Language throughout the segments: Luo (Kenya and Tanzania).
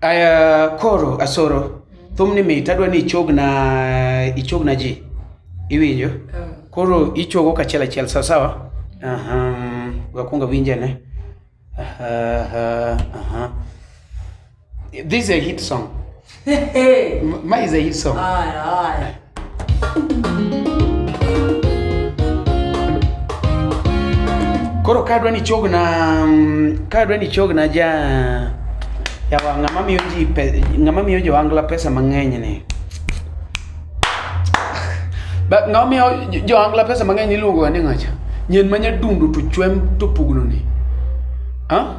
Aya koro asoro thumni mit adwa ni ichogna ichogna ji iwinjo koro ichogo kachiel achiel sawa sawa Aha, wakwongo awinje ne Aha, aha, aha. this is a hit song M- Maize hii song. Haya, haya. Koro kadwa ni chog na mm, kadwa ni chog na ja yawa ng'ama miyo ji pe- ng'ama miyo jo angla pesa mang'eny ni. Ba ng'ama miyo jo- jo angla pesa mang'eny iluongo ga ni ng'acha. Nyen manya dundu to chwem to pugno ni. Ha?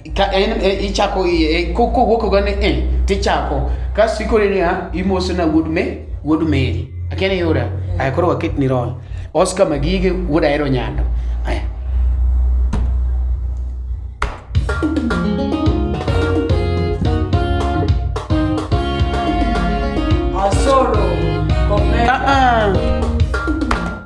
Ka en e, ichako iye e, ko- kowuok oga ni e tichako kasto ikore niya imoso na wuod me wuod meri akia ni yuda aya koro waket ni roll oscar magige wuod ahero nyando aya Asoro. Komera. ah, ah.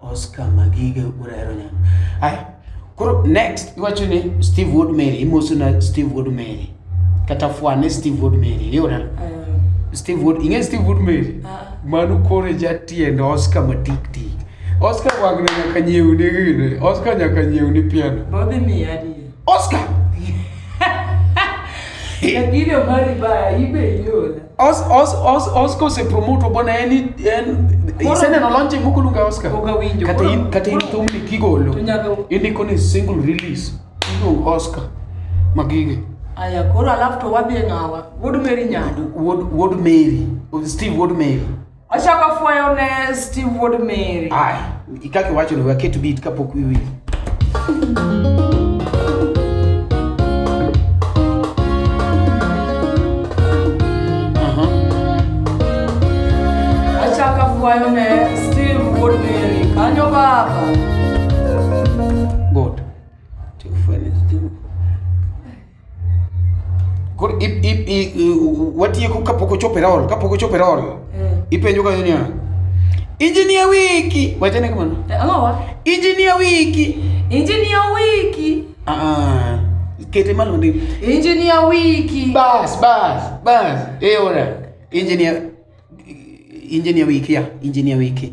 Oscar Magiga urahero nyang. Haya. Koro next iwacho ni Steve Wood Mary, imoso na Steve Wood Mary. Kata fwane Steve Wood Mary, yora. Um, Steve Wood, ing'e Steve Wood Mary? Ah. Mano koro jatiend Oscar matik tik. Oscar wagna nyaka nyiew ni gini. Oscar nyaka nyiew ni piano. Bobby mi adiye. Oscar! Lakini omari baya ibe yona. Os, os, os, Oscar osepromoto bwana en en Koro- iseneno lonje moko luonga Oscar Pok awinjo. kata Koro- in kata in koro- thumni kigolo to nyaka- indiko ni single release iluongo Oscar magige Aya koro alafu to wadhi e ng'awa. Wuod Mary Nyado. Wood Wood Mary Steve Wood Mary Achako fwayo ne Steve Wuod Mary. Ay, ikaki wacho ni waketo beat kapok wiwil. Achako fwayo ne Steve Wuod Mary. Kanyo baba. koro i- i- i- i- watieko kapok ochopo e rol kapok ochopo e rol Eh. ipenjo kanyo niya injinia wiki wachane kamano Eh, ang'o wa injinia wiki injinia wiki Ah, ah. kete malo ndi injinia wiki bas bas bas e ora injinia injinia wiki ya injinia wiki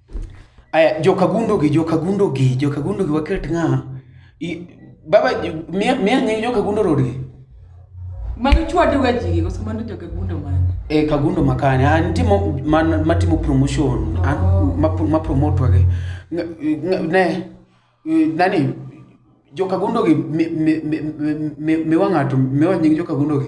Aya, joka gundogi, joka gundogi, joka gundogi waket ng'a? I- Baba, ju- miya miya nying joka gundo rodgi. Magi chwadoga ji, koso mano joka gundo mane? E kagundo makane, an timo man matimo promotion, an Oh. ma ma promote wage. Nga- nga- Ne eh, nani joka gundogi mi mi mi mi- mi wang'ato, mi wanying joka gundogi.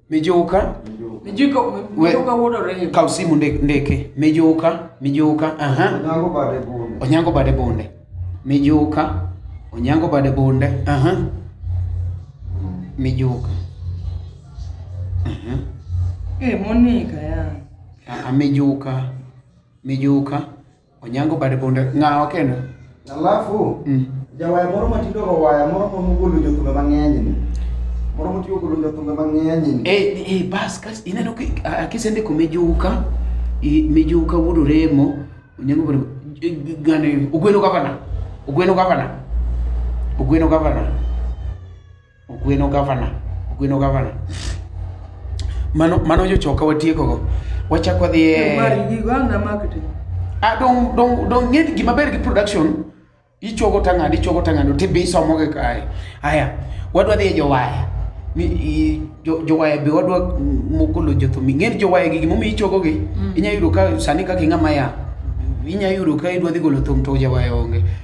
Mijuka, Mijuka We- mijuka wuod Orego. kaw simu nde- ndeke. Mijuka, mijuka, aha. Onyango bade bunde. Onyango bade bunde. Mijuka, Onyango bade bunde, aha. Mijuka. Aha. Eh, Monica ya. Ah, ah, Mijuka, mijuka. Onyango bade bunde ng'awa kendo. Alafu Mm. jawaya moro matindo go waya moro ma mogolo jothumbe mang'eny ni. Moro motiyo golo jothumbe mang'eny ni. Eh, eh, bas kas ineno ki a- kisendiko mijuka i- mijuka wuod oremo onyango bade eh, gane ogweno gavana ogweno gavana ogweno gavana Ogweno gavana, Ogweno gavana. Mano mano jochoka watieko go. Wachak wadhi e Mari gigo ang' na marketing. Ah, dong dong dong ng'e ni gima ber gi production ichogo tang'ad ichogo tang'ad to be isomo gi kae. Haya, wadwa dhi e jowaya. Ni i- jo- jowaya be wadwa moko lo jothum. Ng'e ni jowaya gi gimomiyo ichogo gi. Inya yudo ka sani kaka ing'ama ya. Inya yudo ka idwa dhi golo thum to jawaya onge.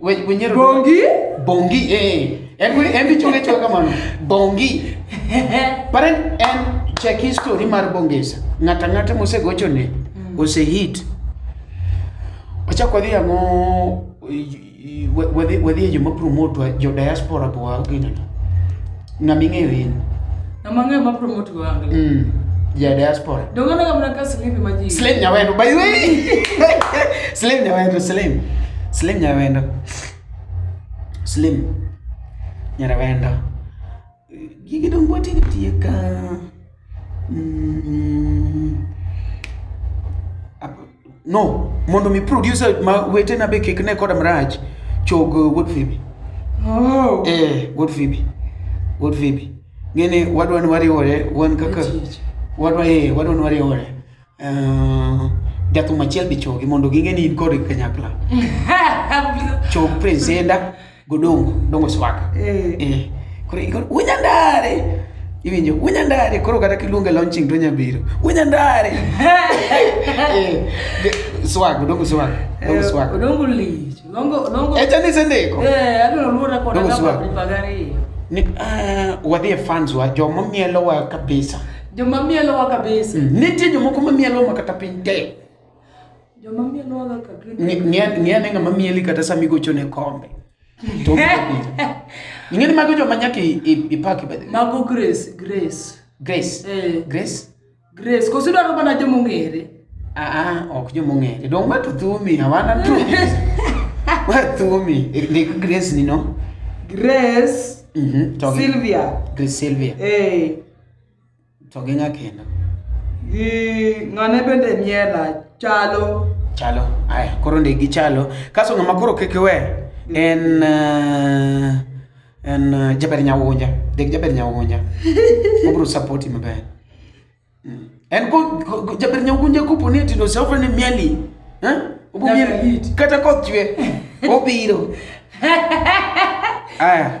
We- wenyero- Bongi? bongi eh en wili- en bichunge chunge kamano bongi par en en check history mar bongesa ng'ata ng'ata mosegocho ne ose hit wachak wadhi ang'o i- i- wa- wadhi wadhi e joma promotwa jo diaspora bowa ginana ng'ama ing'eyo in Ng'ama ng'eyo ma promote go angle. mm. ja diaspora Donge aneno mana ka silipi ma ji. slim nyawendo by the way slim nyawendo slim slim nyawendo slim nyarawendo gigi dong watiyo tiyo ka Mm, ab- no mondo mi producer ma wetena be kik ne koda marach chog uh, wuod fibi Oh. eh wuod fibi wuod fibi ng'eni wadwa ni wariwore wan kaka Eti, eti. wadwa eh wadwa ni wariwore Eh, jathum achiel be chogi mondo ging'e ni in kod kanyakla chog presenda godongo dongo swaka Eh. Eh, koro igor unyandare iwinjo unyandare koro kata kiluonge launching to nyabiro unyandare Eh, ge- swag dongo swag dongo swag Odongo lich. Odongo odongo. echa ni sendeko Eh, abiro luora kod Dongo agamba swag. pagari. ni ah, wadhi e fans wa joma mielowa kabisa Joma mielowa kabisa. Mm, nitie jomoko ma mielowa ma kata piny te. Joma mielowa ga kabisa. Ng'e ane ng'ama mieli kata sama igochone kombe. Ing'eni mago joma nyaka ipaki bedhe. Mago Grace, Grace. Grace. Eh. Grace. Grace. Koso idwaro mana joma ong'ere. Ah, ah ok joma ong'ere. Dong' ma to thumi, hawana tu. Ma thumi. Ndik Grace ni no. Grace. Mm -hmm. Sylvia. Grace Sylvia. Eh. To gi nya kendo. Gi ng'ane bende miela chalo. Chalo. Aya, koro ndi gi chalo. Kaso ng'ama koro kik we en uh, en uh, Jaber Nyawunja. Dek Jaber Nyawunja. Obro support him maber. Mm. En ko ko- ko- Jaber Nyawunja kopo ni tindo se ofrene mieli. Eh? Obo Nyaka mieli. hit. Kata koth chwe. Obiro. Aya.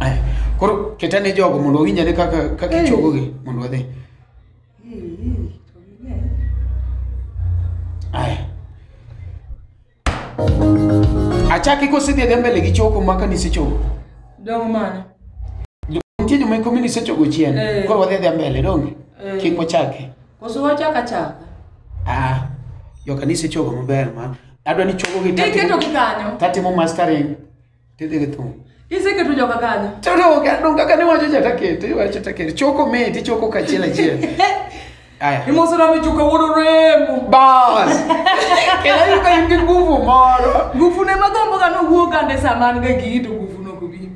Aya, koro keta ne jogo mondo owinj ane kaka kaka Eh. ichogogi mondo wadhi aya achaki kosidhi adhi mbele gi choko maka nisechogo Dong mana. nitie joma ikomi nisechogo chien Eh. koro wadhi adhi mbele donge Eh. kik wachaki Koso wachaka chaka. ah joka nisechogo maber ma adwa ni chogo gi Iketo gi kanyo. tatimo mastering tidhi gi thum Iseketo joga kanyo. Toro kando kaka ne wacho cha takete, wacho takete. Choko me ti choko kachiel achiel. Aya. Imoso na michuka wuodo remo. Bas. Kela yuka yungi nguvu moro. Nguvu ne magombo ga no wuoga ne saman ga gito nguvu no kubi.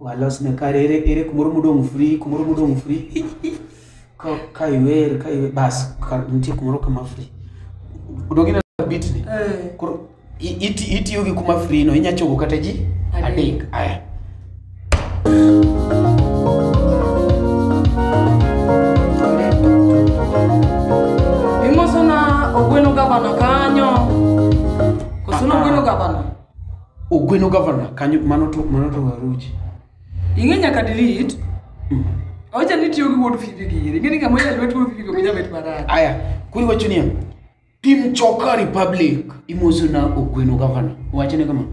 walos ne kare ere ere kumoro modong' free kumoro modong' free Hi, hi. ka ka iwer ka iwer bas ka nitie kumoro kama free odong' ineno ka bit ni Eh. koro i- iti- itiyo gi kuma free no inya chogo kata ji Adek. adek aya Imoso na ogweno gabana kanyo. Koso na ogweno gabana. Ogweno governor kanyo mano to mano to Waruchi. Ing'e nyaka delete. Mm. Ocha ni tiyo gi wuod Fifi gi iri. Ing'e ni kama yalwe tuo Fifi go nyabet marach. Aya, kuri wacho niya. Tim Choka Republic imoso na Ogweno governor. Wacho ne kama.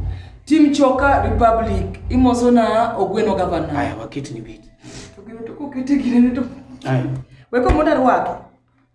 Tim Choka Republic imoso na Ogweno governor. Aya, waket ni bit. To gino to kokete gine to. Aya. Weko moda rwake.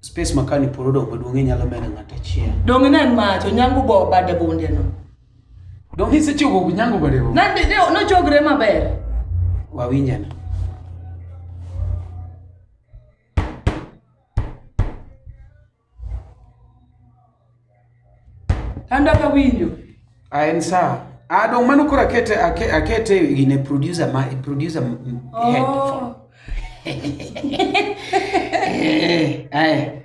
space makani polo dong maduong' inyalo medo ng'at achiel donge ne en mach onyango bo bade bunde no dong isechogo nyango bade bunde nande ne nochogre maber wawinjana An dak awinjo. Ah, en sawa. Ah, dong' mano koro akete ake- akete in a producer ma producer m- m- head. Oh. Eh, aye.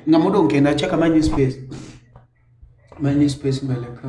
Ng'ama odong' kendo achaka manyi space. Manyi space mbele ka.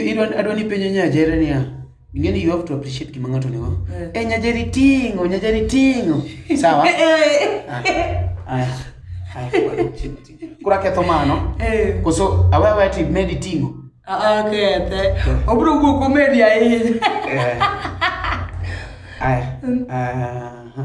idwa adwa ni penjo nyajere niya ing'e ni you have to appreciate gima ng'ato nigo Eh. e nyajeri ting'o nyajeri ting'o sawa Eh, Ah, aya, aya, koro chini, chini. koro aketho mano eh. koso awe awe ti medi ting'o Ah, ah, kethe obiro wuok omedi ahinya Eh. aya aha.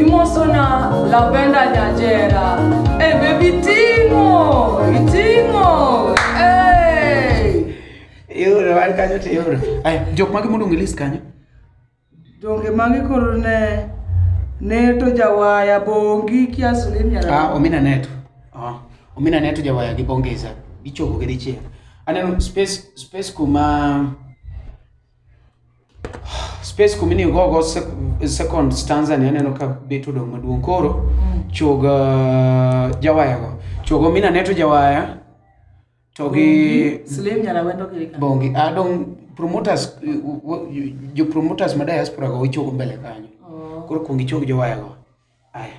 Imosona Lavenda Nyajera. Hey, baby Timo! Timo! Hey! Yoro, wan kanyo to yoro. Aya, jok mage mondo ngelis kanyo? Donge magi koro ne ne to jawaya bongi kiasu ni nyara. Ah, omina neto. Ah, omina ne tuja waya gi bongeza gichopo gi dichiel aneno space space kuma space kuma iniyo gogo sec- second stanza ni aneno ka bet odong' maduong' koro choga jawayago chogo mina ne to jawaya to gi Slim nyala wendo kiri ka. bongi adong' promoters eh, w- w- jo promoters ma diaspora go ichogo mbele kanyo Oh. koro kuong ichog jowayago aya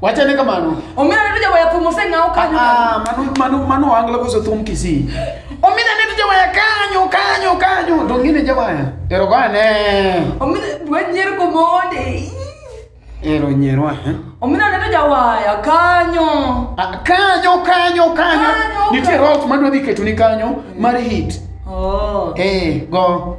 Wachane kamano. Omina ne tuja waya thum oseng'aw kanyo. Ah, mano mano mano wangla koso thum Kisii. Omina ne tuja waya kanyo kanyo kanyo. To ngine jawaya. Ero gane. Omina wanyer komonde. Ero nyerwa. eh? Omina ne tuja waya kanyo. Ah, kanyo kanyo kanyo. Kanyo, Nitie kanyo. route madwa dhi ketuni kanyo mar hit. Oh. Eh, go.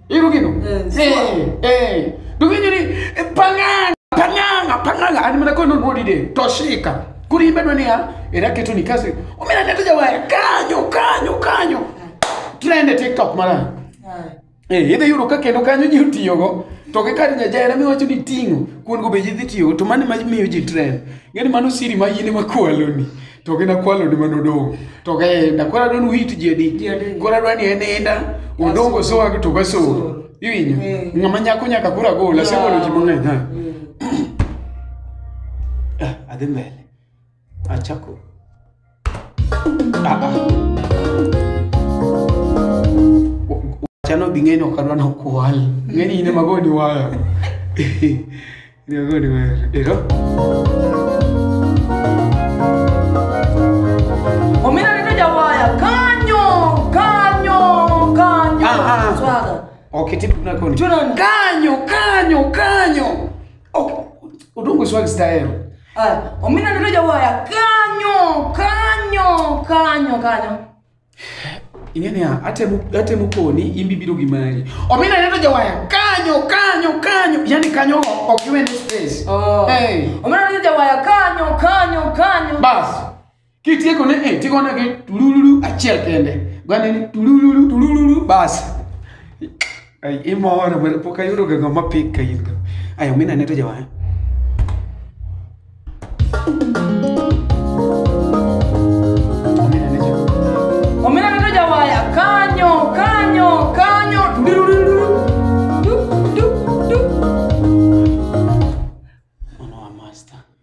Iru gitu. Eh, eh, eh. Dugi jadi eh, pangang, pangang, pangang. Ani mana kau nunggu di deh. Toshika. Kuri imbe doni ya. Era kitu ni kasi. Umina neta jawa ya. Kanyo, kanyo, kanyo. Trend TikTok mara. Eh, idhi yudo ka kendo kanyo ji otiyogo to gi kar nyajera miwacho ni ting'o kuon go be ji dhi tiyogo to mano ma miyo ji trend ng'eni mano siri ma yini makwaloni to gin akwaloni ma nodong' to gaenda koro adwa ni uhit ji adi Ji adi. koro adwa ni en enda odong' osowag to gasor iwinjo Mm. ng'ama nyako nyaka koro agola asegolo ji mang'eny ha Ah, adhi mbele achako Ah, ah. chano dhi ng'eny ok adwa nokwal ng'eny ine magoni waya Gregory Were. Ero. Omina neno jawaya kanyo kanyo kanyo Aha. swaga Okay, tip na koni. Tunan. Kanyo, kanyo, kanyo. Okay. Udungu swag style. Aya, omina neno jawaya kanyo kanyo kanyo kanyo ing'e niya atemo atemo koni in be ibiro gi mari omina ne to jawaya kanyo kanyo kanyo yani kanyo ok iwe ni space Oh. Hey. Omena ni jawaya kanyo kanyo kanyo. bas kitieko ne eh, tigo negi tulululu achiel kende gwaneni tulululu tulululu bas Ay, imoro, pero pok ayudo ga ng'ama pik ka in go. Ay, omina ne to jawaya. Omina ne jo. Omena neno jawaya kanyo kanyo kanyo Tudurururu. Du, du, du. Mano wa master.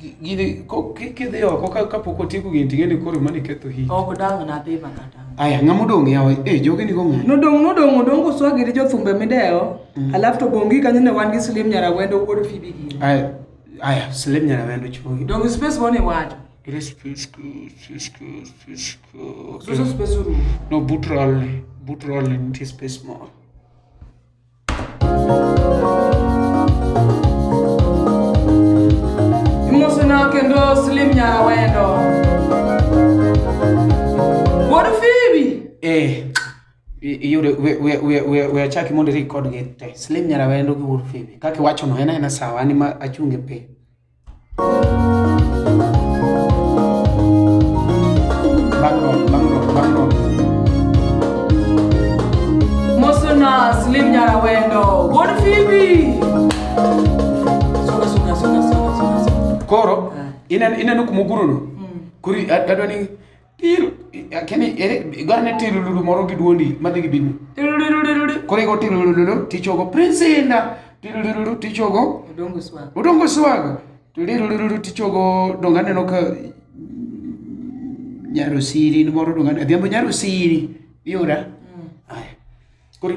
Gi- gini ko- ki- kidhi oko ka- kapok otieko gini ting'e ni koro mani ketho hit ok dang' nadhi mana dang' aya ng'ama odong' yawa e jogi nigo ng'ayo nodong' nodong' odong' koswagi gi jothumbe midewo alafu to bongi kanyo ne wan gi slim nyarawendo wuod fibi gini aya aya slem nyarawendo chuogi donge space mane iwacho suso space orumo no but rolle but rolle nitie space moro Imosona kendo Slim Nyara Wendo. Wuod Phoebe. Eh, i- iyudo we- we- we- we- we achaki mondo irik kodgi te slim nyarawendo gi wuod fibi kaka iwachono en aena sawa an ema achung' e piny Mosonas Lim Nyarawendo, Wuod Phoebe. Songa, songa, songa, songa, songa, songa. koro inen- ineno kuma ogurono kuri adwa ni Tiru. Kini ere igwaro ne tiru lulu moro gi duondi madhi gi bini. Tiru lulu lulu. Kore go tiru lulu lulu tichogo prince inda. Tiru lulu lulu tichogo. Odongo swag. Odongo swag. Tiru lulu lulu tichogo donga neno ka nyaro siri ni moro donga. Adhiambo nyaro siri. Yura. Mm. Ay. Kore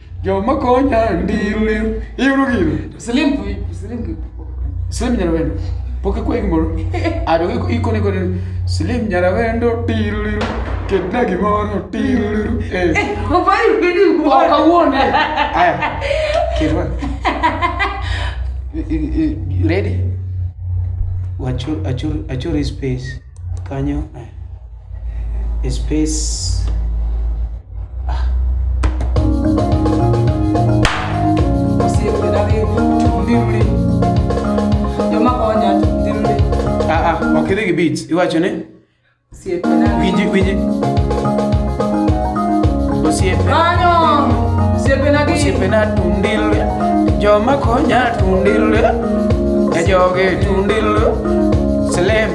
Joma konya ndiri. Iuru gino. Slim kui, slim kui. Slim Nyarawendo. Pok ikwa gimoro. Ado iko iko ni kone. Slim Nyarawendo tiri. Kedna gimoro tiri. Eh. Obai bidi Oh, uwa. kawuono. Aya. Kedwa. I- i- i- Ready? Achur, achur, achur his space. kanyo eh, e space ah, ah, ok idhi gi beats iwacho ni winji winji osiepe osiepena tundil joma konya tundil e joge tundil selem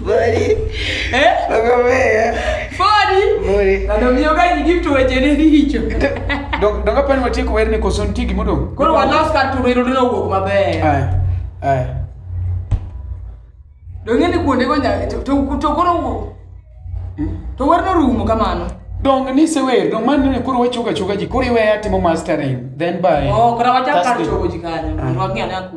Mori. Eh? Nakwambia. Fadi. Mori. Na ndio mioga nyingi mtu weje ni hicho. Dok- Donga pani watieko wer ni koso nitie gima odong'? Koro walos kar turo irudo no wuok maber. Aya, aya. Donge ni kuonde go nya to to- to koro wuok. To werno rumo kamano. Dong nisewer, dong mano ne koro wachoga choga ji, koro iweya timo mastering, then by Oh, kora wachak kar Thursday. chogo ji kanyo. Mondo wang'e ane aku.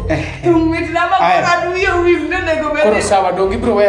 Tung mit na ma Aya. kaka duyo wil ne nego bebe. Koro sawa donge ibiro weya